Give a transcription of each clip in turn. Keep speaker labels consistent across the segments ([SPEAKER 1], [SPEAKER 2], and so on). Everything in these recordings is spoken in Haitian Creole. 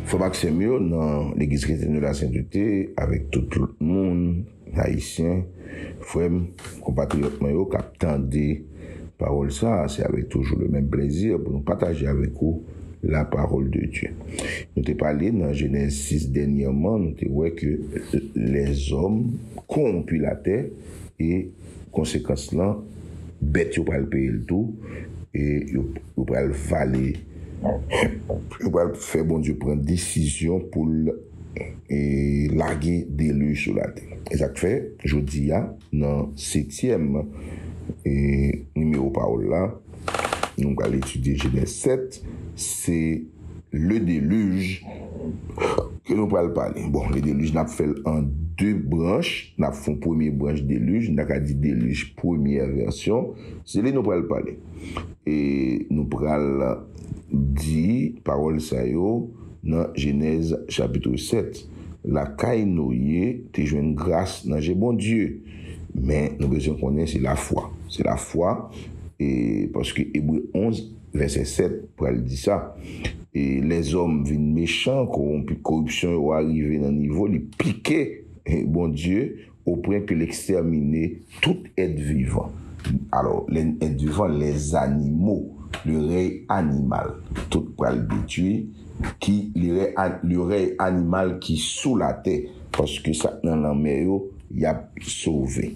[SPEAKER 1] Frè m ak sè m yo nan Legliz Kretyen de la Sentete avèk tout lòt moun, Ayisyen, frè m, konpatriyòt mwen yo k ap tande. Pawòl sa a, se avèk toujou le menm plezi pou nou pataje avèk ou la pawòl de Dye. Nou te pale nan Jenèz 6 dènyèman, nou te wè ke lèzòm kowonpi latè e konsekans lan, bèt yo pral peye l tou e yo pral vale, yo pral fè Bondye pran desizyon pou l lage deluj sou latè. E sa k fè, jodi a, Nan setyèm nimewo pawòl la, nou pral etidye Jenèz 7. Se ledelij ke nou pral pale. Bon, ledelij n ap fè l an de branch. N ap fè yon premye branch delij, nou ta ka di delij premyè vèsyon. Se li nou pral pale. E nou pral di pawòl sa yo nan Jenèz chapitre 7. lakay Noye te jwenn gras nan je Bondye. Men, nou bezwen konnen se lafwa. Se lafwa, e, paske Ebre 11, vèsè 7, pral di sa. E, lèzòm vin mechan, kowonpi, koripsyon yo a rive nan nivo li pike Bondye. Au pwen ke l ekstèmine tout èt vivan. Alò, lè n èt vivan, lè zanimo, le rèy animal, tout pral detwi, ki le rèy a, le rèy animal ki sou latè, paske sa k nan lanmè yo, y ap sove.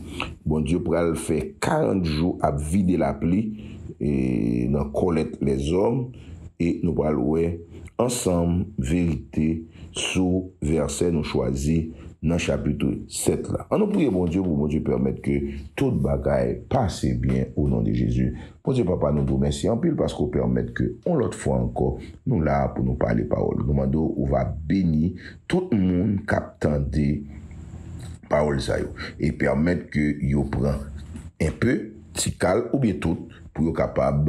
[SPEAKER 1] Bondye pral fè karant jou ap vide lapli e nan kòlèt lèzòm e nou pral wè ansanm verite. sou vèsè nou chwazi nan chapitre 7 la. An nou priye Bondye pou Bondye pèmèt ke tout bagay pase byen o non de Jezi. Bondye Papa nou di w mèsi anpil paske w pèmèt ke on lòt fwa ankò nou la pou nou pale pawòl ou. Nou mande w ou va beni tout moun kap tande pawòl sa yo e pèmèt ke yo pran enpe, tikal oubyen tout pou yo kapab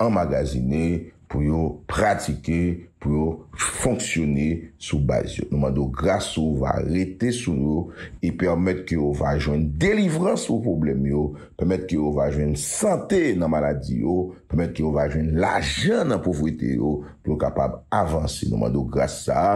[SPEAKER 1] anmagazine, pou yo pratike, pou yo fonksyone sou baz yo. Nou mande w gras ou va rete sou yo e pèmèt ke yo va jwenn delivrans pou pwoblèm yo, pèmèt ke yo va jwenn sante nan maladi yo, pèmèt ke yo va jwenn lajan nan povrete yo, pou yo kapab avanse. Nou mande w gras sa a.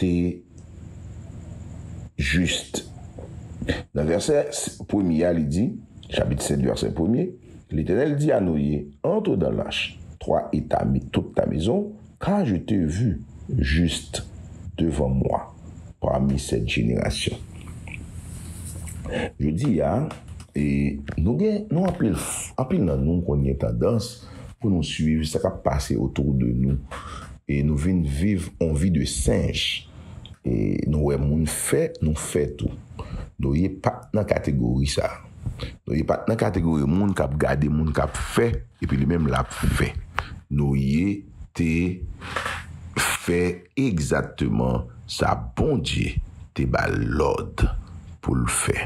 [SPEAKER 1] te jis. Nan vèsè premye a, li di, chapit 7, vèsè premye, Letènèl di a Noye, Antre dan lach, twa e ta tout ta mezon, ka je te vu jis devan mwa pami sèt jenerasyon. Jodi a, nou gen, nou anpil, anpil nan nou konn gen tandans, Pou nou swiv sa kap pase autour de nou e nou vin viv on vi de senj e nou wè moun fè nou fè tou. Noye pat nan kategori sa. Noye pat nan kategori moun kap gade moun kap fè epi li menm lap fè. Noye te fè egzakteman sa Bondye te bal lòd poul fè.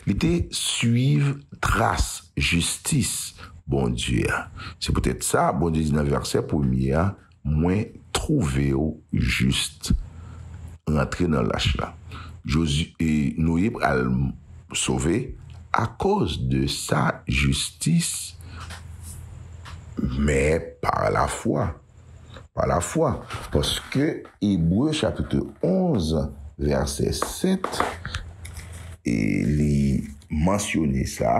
[SPEAKER 1] Li te swiv tras jistis. Bondye a. Se poutèt sa, Bondye di nan vèsè premye a, Mwen twouve w jis. Rantre nan lach la. Jozi, e, Noye pral sove, akoz de sa jistis, men pa lafwa. Pa lafwa, paske Ebre chapitre 11 vèsè 7, li mansyone sa,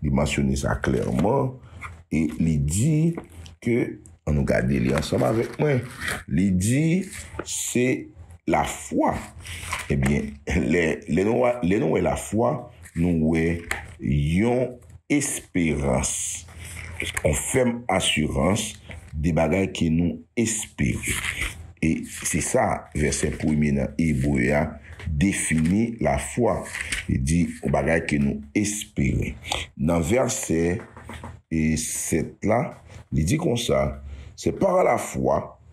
[SPEAKER 1] li mansyone sa klèman, e li di ke, an nou gade li ansanm avèk mwen, li di, se lafwa. Ebyen, lè nou wè lafwa, nou wè yon. esperans. On fèm asirans de bagay ke nou espere. E se sa vèsè premye nan Ebre a defini lafwa. Li di on bagay ke nou espere. Nan vèsè 7 la, li di konsa, Se pa lafwa.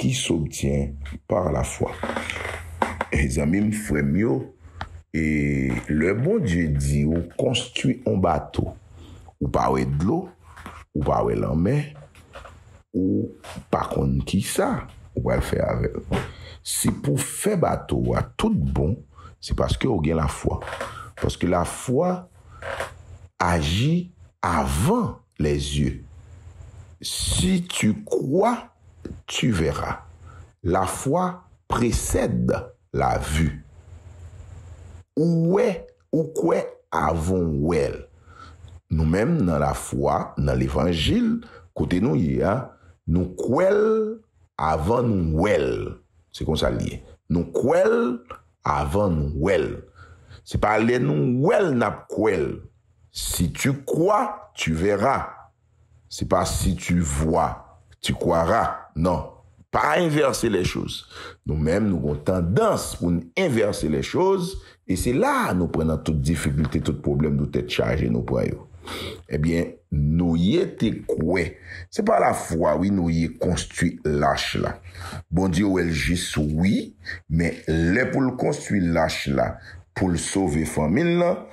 [SPEAKER 1] ki s'obtient par la foi. Hey zanmi m, frè m yo, e lè Bondye di ou konstwi on bato, ou pa wè dlo, ou pa wè lanmè, ou pa konn kisa ou pral fè avè l. Si pou fè bato a tout bon, se paske ou gen lafwa. Paske lafwa aji avan. les yeux si tu crois tu verras la foi précède la vue ou wè ou kwè avan w wè l nou menm nan la foi nan levanjil kote nou ye a nou kwè l avan nou wè l se konsa l ye nou kwè l avan nou wè l se pa lè nou wè l n ap kwè l Si tu kwa, tu vèra. Se pa si tu vwa, tu kwara. Non. Pa envèse lè choz. Nou menm nou gon tandans pou n envèse lè choz e se la a nou pran nan tout difikilte, tout pwoblèm nou tèt chaje nou pran yo. Ebyen, Noye te kwè. Se pa lafwa wi Noye konstwi lach la. Bondye wè l jis wi, men lè pou l konstwi lach la pou l sove fanmi l lan,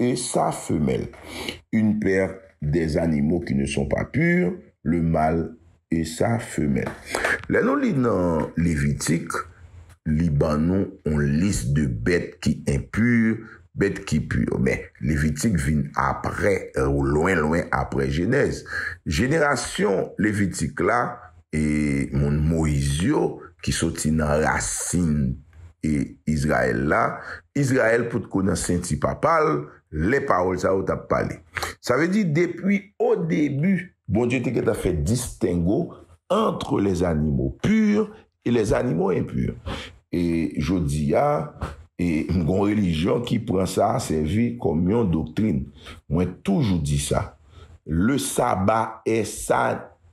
[SPEAKER 1] e sa femelle, une paire des animaux qui ne sont pas purs, le mâle e sa femelle. Lè nou li nan Levitik, li ban nou on lis de bèt ki enpur, bèt ki pur. Men, Levitik vin apre, lwen lwen apre Jenèz. Jenerasyon Levitik la e moun Moyiz yo ki soti nan rasin e Izrayèl la, Izrayèl potko nan senti papa l lè pawòl sa yo t ap pale. Sa vle di, depi odebi, Bondye te gentan fè distengo antre les animaux purs et les animaux impurs. E jodi a, e gen yon relijyon ki pran sa sèvi kòm yon doktrin. Mwen toujou di sa, le sabbat est sa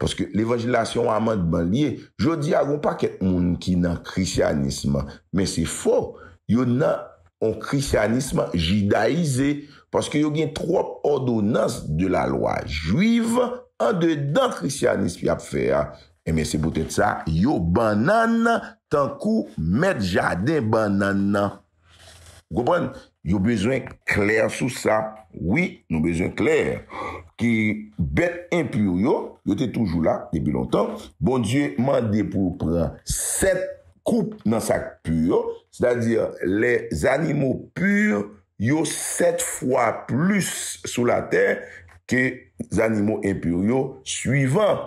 [SPEAKER 1] Paske levanjil la se yon amandman li ye. Jodi a gen yon pakèt moun ki nan krisyanism, men se fo, yo nan yon krisyanism jidayize, paske yo gen twòp òdonans de la lwa jwiv andedan krisyanism y ap fè a, enben se poutèt sa yo bannann tankou mèt jaden bannann nan. Ou konprann? Yo bezwen klè sou sa. Wi, nou bezwen klè ke bèt enpur yo, yo te toujou la depi lontan. Bondye mande pou yo pran sèt koup nan sa k pur yo, sètadi lè zanimo pur yo sèt fwa plis sou latè ke zanimo enpur yo suivan.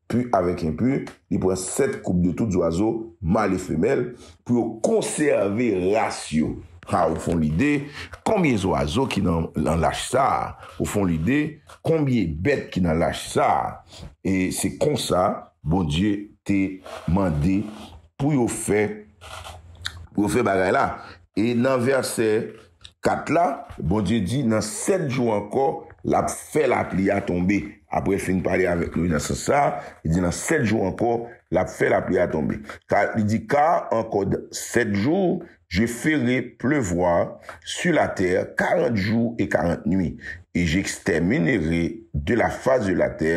[SPEAKER 1] Pu avèk enpu, li pran 7 koup de tout zwazo, mal e femèl, pou yo konsève ras yo. Ha, ou fon lide, konbye zwazo ki nan lach sa a? Ou fon lide, konbye bèt ki nan lach sa a? E se konsa, Bondye te mande pou yo fè, pou yo fè bagay la. E nan vèsè. 4 la, Bondye di, nan 7 jou ankò, l ap fè lapli a tonbe. Apre l fin pale avèk Moyiz nan sans sa a, li di, Nan 7 jou ankò, l ap fè lapli a tonbe. Ka, li di, Ka, an kòd 7 jou, je fere plevwa su latè karant jou e karant nui, e j'ekstèminere de la fas de latè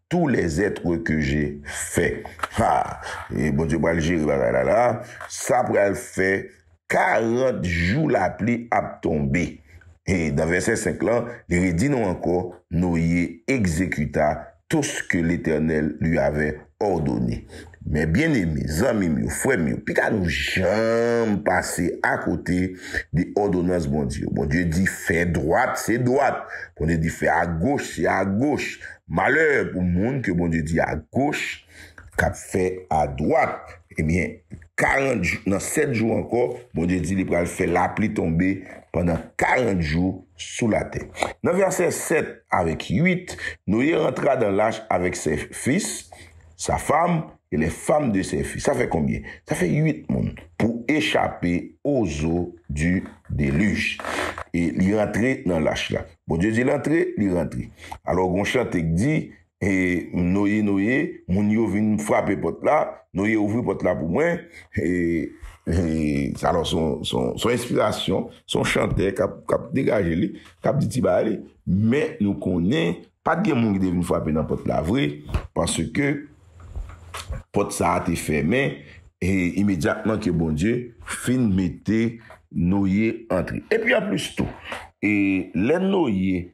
[SPEAKER 1] tou lèzètre ke je fè. Ha! Bondye pral jere bagay la la a. Sa pral fè 40 jou lapli ap tonbe. E, nan vèsè 5 lan, li redi nou ankò, Noye egzekuta tou se ke Letènèl li avè òdone. Mè byeneme, zanmi m yo, frè m yo, pita nou janm pase akote de òdonans Bondye yo. Bondye di, Fè dwat, se dwat. Bondye di, Fè agoch, se agoch. Malè pou moun ke Bondye di agoch! K ap fè adwat, ebyen, 40 jou, nan 7 jou ankò, Bondye di li pral fè lapli tonbe pandan 40 jou sou latè. Nan vèsè 7 avèk 8, Noye rantra dan lach avèk sè fis, sa fam, e lè fam de sè fis. Sa fè konbyen? Sa fè 8 moun, pou echape o zo di delij. E li rantre nan lach la. Bondye di l antre, li rantre. Alò, gon chante k di, E Noye, Noye, moun yo vin frape pòt la, Noye ouvri pòt la pou mwen. E, alò son enspirasyon, son chantè k ap degaje li, k ap di ti bagay li. Men nou konnen, pa t gen moun ki te vin frape nan pòt la vre, paske pòt sa a te fèmen, e imedyatman ke Bondye fin mete Noye antre. E pi anplis tou, e lè Noye,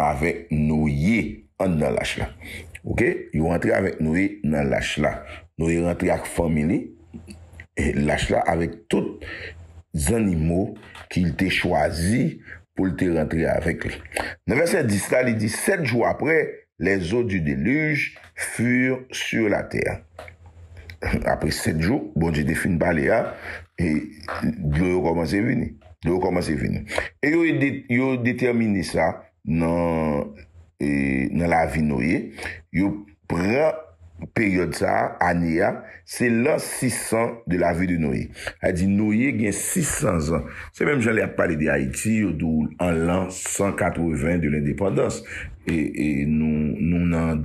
[SPEAKER 1] avèk Noye anndan lach la. Ok, yo rantre avèk Noye nan lach la. Noye rantre ak fanmi li, lach la, avèk tout zannimo ki l te chwazi pou l te rantre avèk li. Nan vèsè 10 la, li di, Sèt jou apre, les eaux du déluge furent sur la terre. Apre sèt jou, Bondye te fin pale a, dlo yo kòmanse vini. Yo kòmanse vini. E yo ede, yo detèmine sa nan e nan lavi Noye. Yo pran peryòd sa a, ane a, se lan 600 de la vie de Noye. Sa vle di Noye gen 600 zan. Se menm jan lè y ap pale de Ayiti, yo di w an lan 180 de lendepandans. E e nou, nou nan.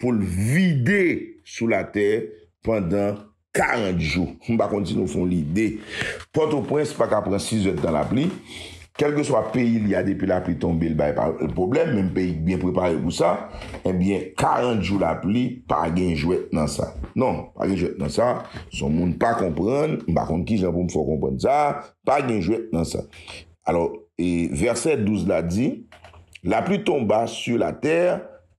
[SPEAKER 1] pou l vide sou latè pandan 40 jou. M pa konn si nou fon lide. Pòtoprens pa ka pran 6 zèdtan lapli. Kèlkeswa peyi li a depi lapli tonbe l bay pwoblèm, menm peyi k byen prepare pou sa, ebyen 40 jou lapli pa gen jwèt nan sa. Non, pa gen jwèt nan sa. Si yon moun pa konprann, m pa konn kijan pou m fè w konprann sa, pa gen jwèt nan sa. Alò, vèsè 12 la di, La pluie tomba sur la terre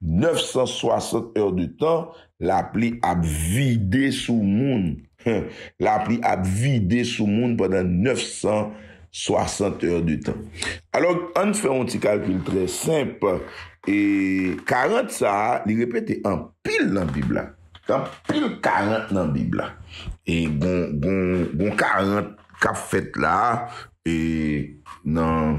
[SPEAKER 1] 960 heures de tan lapli ap vide sou moun huh lapli ap vide sou moun pandan 960 heures de tan alò ann fè yon ti kalkil trè senp e 40 sa a li repete anpil nan bib la gen anpil 40 nan bib la e gon gon gon 40 kap fèt la e nan.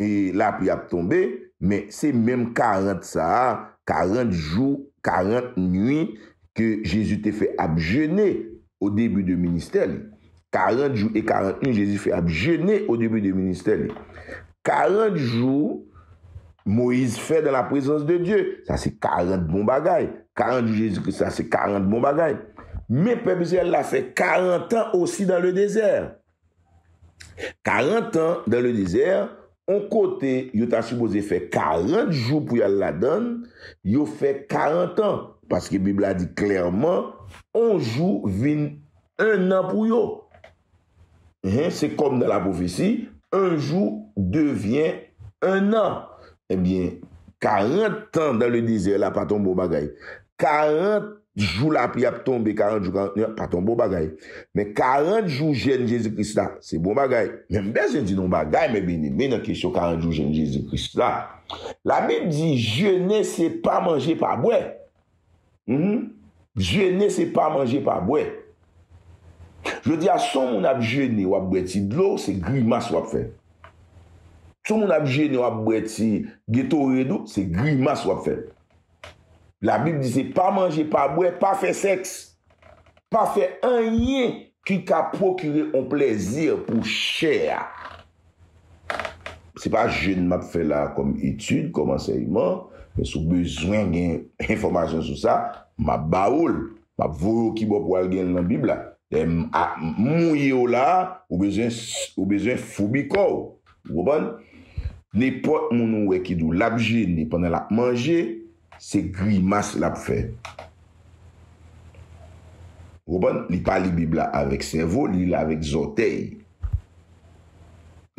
[SPEAKER 1] e lapli ap tonbe, men se menm 40 sa a, 40 jou, 40 nwi ke Jezi te fè ap jene o debi de ministè li. 40 jou e 40 nwi Jezi fè ap jene o debi de ministè li. 40 jou Moyiz fè dan la prezans de Dye, sa se 40 bon bagay. 40 jou Jezi Kris la se 40 bon bagay. Men pèp Izrayèl la fè 40 an osi dan le dezè. 40 ans dans le désert, on kote yo ta sipoze fè 40 jou pou y'al ladann, yo fè 40 ans, paske bib la di klèman on jou vin 1 an pou yo. Hein, se kòm nan la pwofesi, un jour devient un an. Ebyen, 40 tan dan le dezè la pa t yon bon bagay. 40 jou lapli ap tonbe, 40 jou 40 nuit ap pa tonbe bon bagay. Men 40 jou jèn Jezi Kris la, se bon bagay. Men m bezwen di nou yon bagay men byeneme nan kesyon 40 jou jèn Jezi Kris la. Labib di jene se pa manje pa bwè. Mph jene se pa manje pa bwè. Jodi a si yon moun ap jene wap bwè ti dlo se grimas wap fè. Si yon moun ap jene wap bwè ti getored ou se grimas wap fè. Labib di se pa manje, pa bwè, pa fè sèks, pa fè anyen ki ka pwokire yon plezi pou chè a. Se pa jèn m ap fè la a kòm etid, kòm ansèyman, men si w bezwen gen enfòmasyon sou sa, m ap ba ou l. M ap voye w kibò pou w al gen l nan Bib la. Dayè, m mouye w la a, ou bezwen foubi kò w. Ou konprann? Nenpòt moun ou wè ki di w lap jene pandan lap manje, se grimas lap fè. Ou konprann? Li pa li Bib la avèk sèvo, li li l avèk zòtèy.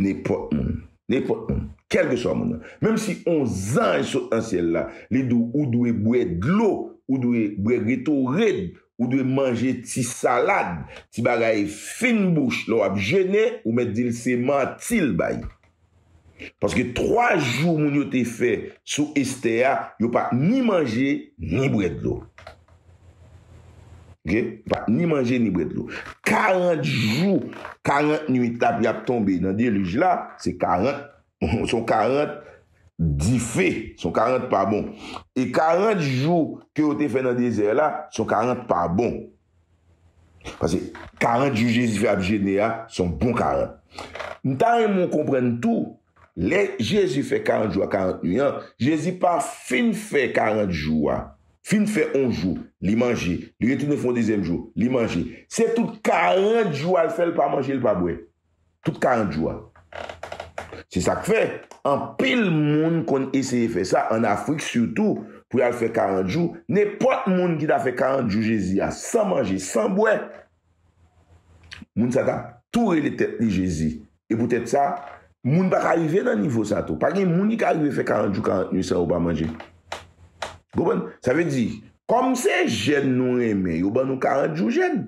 [SPEAKER 1] Nenpòt moun. Nenpòt moun. Kèlkeswa moun nan. Menm si on zanj sot nan syèl la, li di w ou dwe bwè dlo, ou dwe bwè Gatorade, Ou dwe manje ti salad, ti bagay fin bouch lè w ap jene, ou mèt di l se manti l bay. Paske 3 jou moun yo te fè sou Estè a, yo pa t ni manje ni bwè dlo. Ok, yo pa t ni manje ni bwè dlo. 40 jou, 40 nuit ap y ap tonbe nan delij la, se 40. Son 40 dife, son 40 pa bon. E 40 jou ke yo te fè nan dezè la, son 40 pa bon. Pase 40 jou Jezi fè ap jene a, son bon 40. M ta renmen w konprann tou, lè Jezi fè 40 jou ak 40 nwi an, Jezi pa fin fè 40 jou a, fin fè on jou, li manje, li retounen fè on dezyèm jou, li manje. Se tout 40 jou a l fè l pa manje, l pa bwè. tout 40 jou a. Se sa k fè, anpil moun konn eseye fè sa, ann Afrik sitou, pou y al fè 40 jou. Nenpòt moun ki ta fè 40 jou Jezi a san manje, san bwè, moun sa t ap tou rele tèt li Jezi. E poutèt sa, moun pa ka rive nan nivo sa tou. Pa gen moun ki ka rive fè 40 jou, 40 nuit san yo pa manje. Ou konprann? Sa vle di, kòm se jèn nou renmen, yo ban nou 40 jou jèn.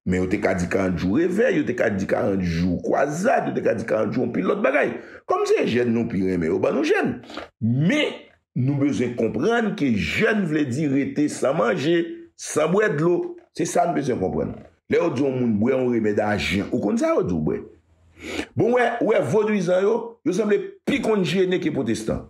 [SPEAKER 1] Men yo te ka di 40 jou revèy, yo te ka di 40 jou kwazad, yo te ka di 40 jou yon pil lòt bagay. Kòm se jèn nou pi renmen, yo ban nou jèn. Men, nou bezwen konprann ke jèn vle di rete san manje, san bwè dlo. Se sa n bezwen konprann. Lè yo di yon moun bwè yon remèd ajan, ou konn sa yo di w bwè? Bon, ou wè, ou wè vodwizan yo, yo sanble pi konn jene ke pwotestan.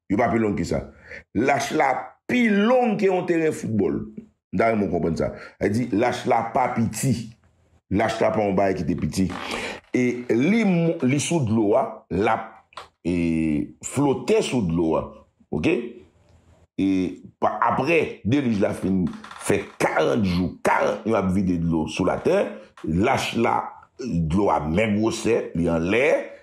[SPEAKER 1] Yo pa pi long ke sa. Lach la pi long ke yon teren foutbòl. M ta renmen w konprann sa. Sa vle di, lach la pa piti. Lach la pa yon bagay ki te piti. E li li sou dlo a, l ap e flote sou dlo a. Ok? E pa apre delij la fin fè 40 jou, 40 nwa ap vide dlo sou latè, lach la, dlo a menm gwosè, li anlè,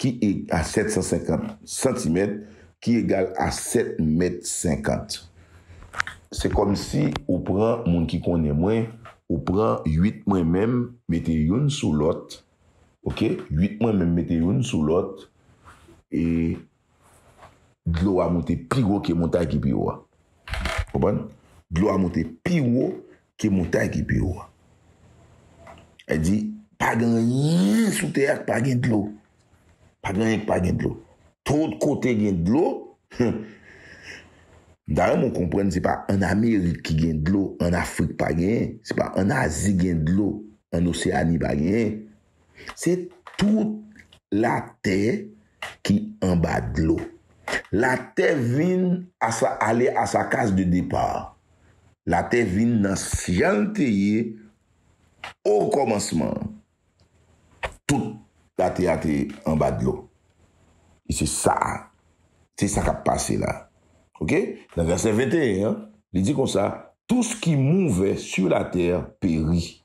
[SPEAKER 1] Ki eg a 750 santimèt, ki egal a 7 mèt 50. Se kòmsi ou pran moun ki konnen mwen, ou pran 8 mwen menm mete youn sou lòt, ok, 8 mwen menm mete youn sou lòt, e dlo a moute pi wo ke montay ki pi wo a. Konprann? Dlo a moute pi wo Ki montay ki pi wo a? Li di, Pa gen anyen sou tè a ki pa gen dlo. Pa gen anyen ki pa gen dlo. Tout kote gen dlo. M ta renmen w konprann se pa ann Amerik ki gen dlo, ann Afrik pa genyen. Se pa ann Azi gen dlo, ann Oseani pa genyen. Se tout latè ki anba dlo. Latè vin a sa ale a sa case de départ. Latè vin nan jan l te ye o kòmansman an. Tout latè a te anba dlo. E se sa a. Se sa k ap pase la. Ok? Nan vèsè 21 an, li di konsa, Tout ce qui mouve sur la terre périt.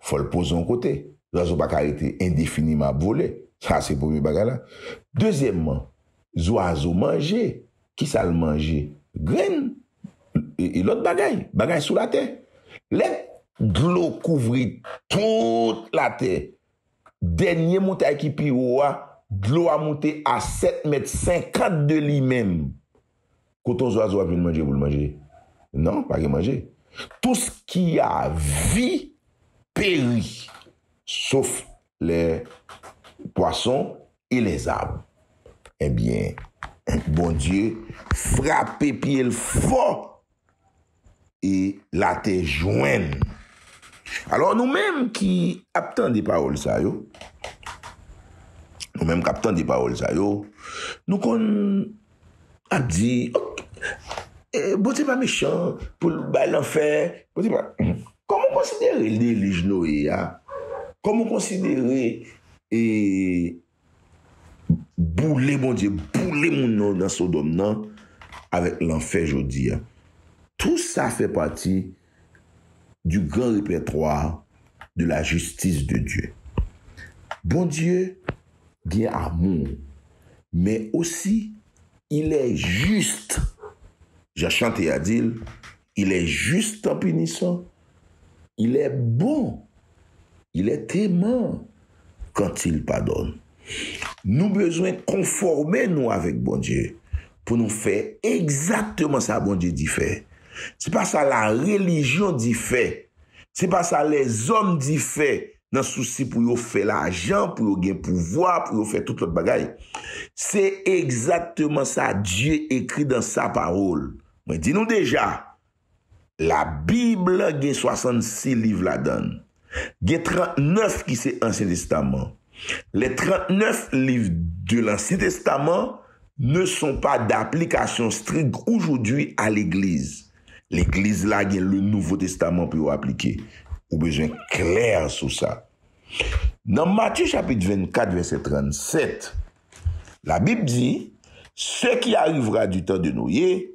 [SPEAKER 1] fò l poze yon kote. Zwazo pa ka rete endefiniman ap vole. Sa se premye bagay la. Dezyèmman, zwazo manje. Ki sa l manje? Grenn e lòt bagay. Bagay sou latè. Lè dlo kouvri tout latè, dènye moutay ki pi wo a, dlo a moute a 7 mèt 50 de li menm. Koton zwazo ap jwenn manje pou l manje? Non, pa gen manje. Tous ki a vi peri, sof lè pwason e lè zab. Ebyen, Bondye frape pye l fò e latè jwenn. Alò nou menm ki ap tande pawòl sa yo, nou menm k ap tande pawòl sa yo, nou konn ap di, Bondye pa mechan pou l bay lanfè, Bondye pa. Kòman w konsidere delij Noye a? Kòman w konsidere Boule Bondye boule moun yo nan sodòm nan avèk lanfè jodi a tout sa fè pati du grand repertoire de la justice de Dieu Bondye gen amour men osi il est juste jan chante a dil il est juste en punissant Il est bon, il est aimant quand il pardonne. Nou bezwen konfòme nou avèk Bondye pou nou fè egzakteman sa Bondye di fè. Se pa sa larelijyon di fè, se pa sa lèzòm di fè nan sousi pou yo fè lajan, pou yo gen pouvwa, pou yo fè tout lòt bagay. Se egzakteman sa Dye ekri dan sa Pawòl. Mwen di nou deja, Labib la gen 66 liv ladan l. Gen 39 ki se Ansyen Testaman. Les 39 livres de l'Ancien Testament ne sont pas d'application stricte aujourd'hui à l'Eglise. Legliz la gen Le Nouveau Testament pou yo aplike. Ou bezwen klè sou sa. Nan Matye chapit 24 vèsè 37, Labib di, Ce qui arrivera du temps de Noé,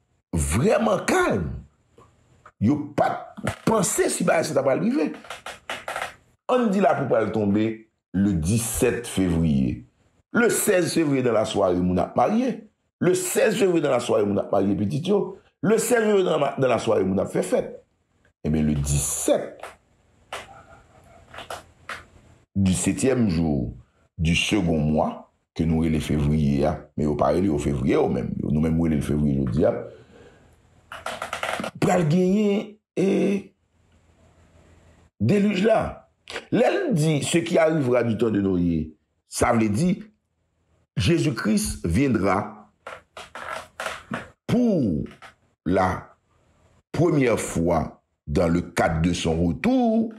[SPEAKER 1] vreman kalm, yo pa t panse si bagay sa ta pral rive. An n di lapli pral tonbe le 17 fevriye. Le 16 fevriye dan lasware moun ap marye. Le 16 fevriye dan lasware moun ap marye pitit yo. Le 16 fevriye dan lasware moun ap fè fèt. Enben le 17, du setyèm jou du segon mwa, ke nou rele fevriye a, men yo pa rele yo fevriye yo menm, nou menm nou rele l fevriye jodi a, pral genyen e delij la. Lè l di se ki arivra du tan de Noye, sa vle di Jezi Kris vyendra pou la premyè fwa dan le kad de son retou,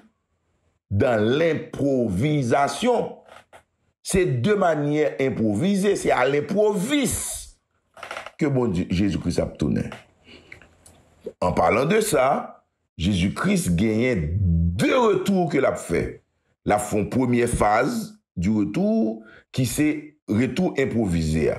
[SPEAKER 1] dan lenpwovizasyon. Se de manyè enpwovize, se a lenpwovis ke Bondye, Jezi Kris ap tounen. An palan de sa, Jezi Kris genyen de retou ke lap fè. Lap fon premyè faz di retou ki se retou enpwovize a.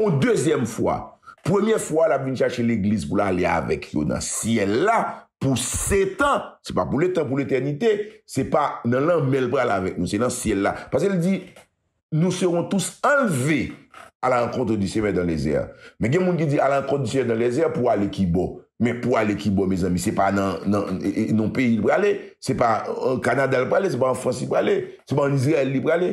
[SPEAKER 1] yon dezyèm fwa. Premye fwa a, l ap vin chache Legliz pou l ale avèk yo nan syèl la pou setan. Se pa pou letan, pou letènite. Se pa nan lanmè l pral avèk nou, se nan syèl la. Paske l di, Nous serons tous enlevés à la rencontre du Seigneur dans les airs. Men gen moun ki di, A la rencontre du Seigneur dans les airs pou ale ki bò? Men pou ale ki bò, mezanmi? Se pa nan yon peyi l prale. Se pa an Kanada l prale. Se pa an Frans li prale. Se pa an Izrayèl li prale.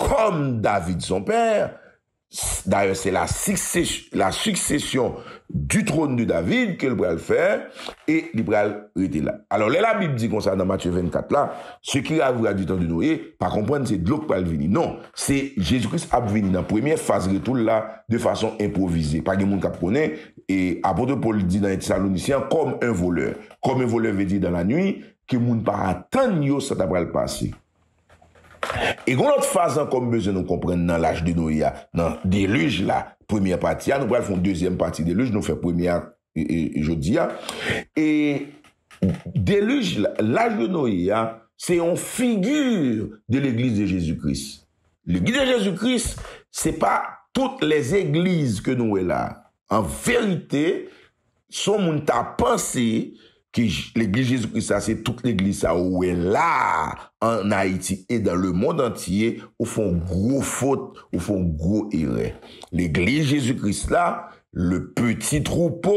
[SPEAKER 1] Kòm David son pè, dayè se la siksesyon di trône de David ke l pral fè e li pral rete la. Alò lè Labib di konsa nan Matye 24 la, Se ki ravoura di tan de Noye, pa konprann se dlo k pral vini. Non, se Jezi Kris ap vini nan premyè faz retou l la de fason enpwovize. Pa gen moun k ap konnen. E Apôtre Paul di nan 1 Thessaloniciens an, Comme un voleur. Comme un voleur vle di dan lanwi, ke moun pa atann yo sa ta pral pase. E gen yon lòt faz ankò m bezwen nou konprann nan laj de Noye a, nan delij la, premyè pati a, nou pral fè yon dezyèm pati delij, nou fè premyè a jodi a, e delij la, laj de Noye a, se yon figi de legliz de Jezi Kris. Legliz de Jezi Kris, se pa tout lèzegliz ke nou wè la. An verite, Son moun ta panse ke legliz Jezi Kris la se tout legliz sa yo ou wè la a an Ayiti e dan le mond antye, ou fè yon gwo fot, ou fè yon gwo erè. Legliz Jezi Kris la, le peti twoupo,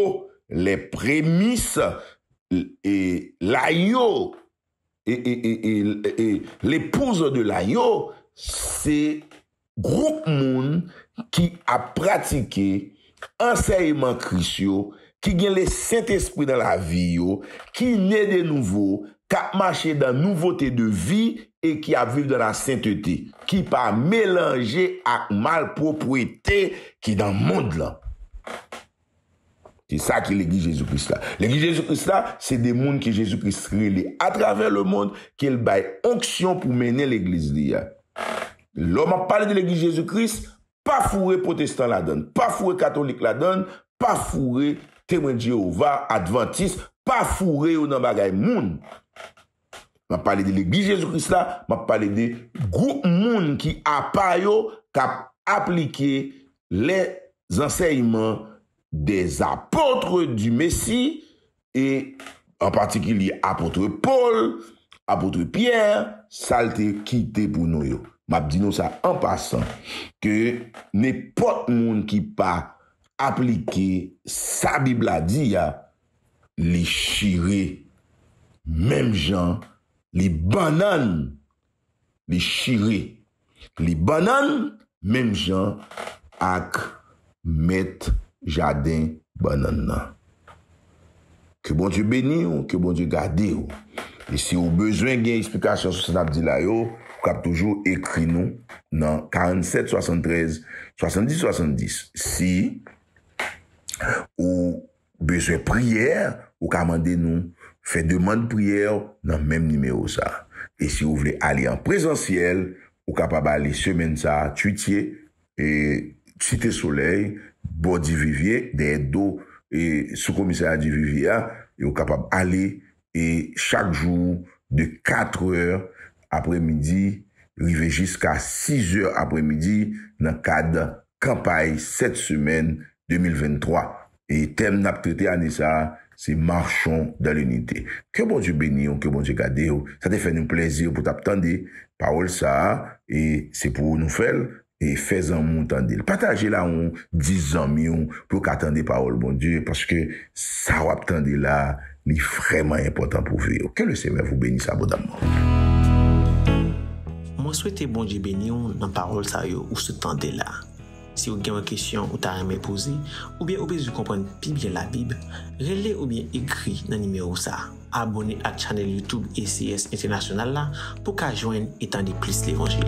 [SPEAKER 1] lè premis, e la yo L'épouse de l'agneau se gwoup moun ki ap pratike ansèyman Kris yo, ki gen le Sentespri nan lavi yo, ki ne de nouvo, k ap mache dan nouvote de vi e ki ap viv dan la sentete, ki pa melanje ak malpwopwete ki dan mond lan. Se sa ki Legliz Jezi Kris la. Legliz Jezi Kris la, se de moun ke Jezi Kris rele atravè lemond, ke l bay onksyon pou mennen Legliz li a. Lè m ap pale de Legliz Jezi Kris, pa foure pwotestan ladan l, pa foure katolik ladan l, pa foure Temwen Jewova, Advantis, pa foure yo nan bagay moun. M ap pale de Legliz Jezi Kris la, m ap pale de gwoup moun ki apa yo k ap aplike lèzansèyman dè Apotre di Mesi e an patikilye Apotre Pol, Apotre Pyè, sa l te kite pou nou yo. M ap di nou sa an pasan ke nenpòt moun ki pa aplike sa Bib la di a, li chire menm jan li bannann li chire li bannann menm jan ak mèt jaden bannann nan. Ke Bondye beni w, ke Bondye gade w. E si w bezwen gen eksplikasyon sou sa n ap di la yo, ou kab toujou ekri nou nan 47 73 70 70. Si ou bezwen priyè ou ka mande nou fè demand priyè nan menm nimewo sa e si ou vle ale an prezansyèl ou kapab ale semèn sa tutie site solèy bò divivye dèyè do sou komisarya divivye a e ou kapab ale e chak jou de 4 è aprè midi rive jiska 6 è aprè midi nan kad kanpay 7 semèn 2023 e tèm nap trete ane sa se marchons dans l'unité ke Bondye beniw ke Bondye gadew sa te fè nou plèzi pou tap tande pawòl sa e se pou nou fèl e fè zanmi'w tande'l. Patajel a yon 10 zanmi'w pou yo ka tande pawòl Bondye paske sa wap tande la li vrèman enpòtan pou vi yo. Ke le Senyè vou benis abondamman.
[SPEAKER 2] Mwen swete Bondye beni'w nan pawòl sa yo ou sot tande la. Si ou gen yon kesyon ou ta renmen poze oubyen ou bezwen konprann pi byen labib, rele oubyen ekri nan nimewo sa. Abone ak channel YouTube ACS International la pou ka jwenn e tande plis levanjil.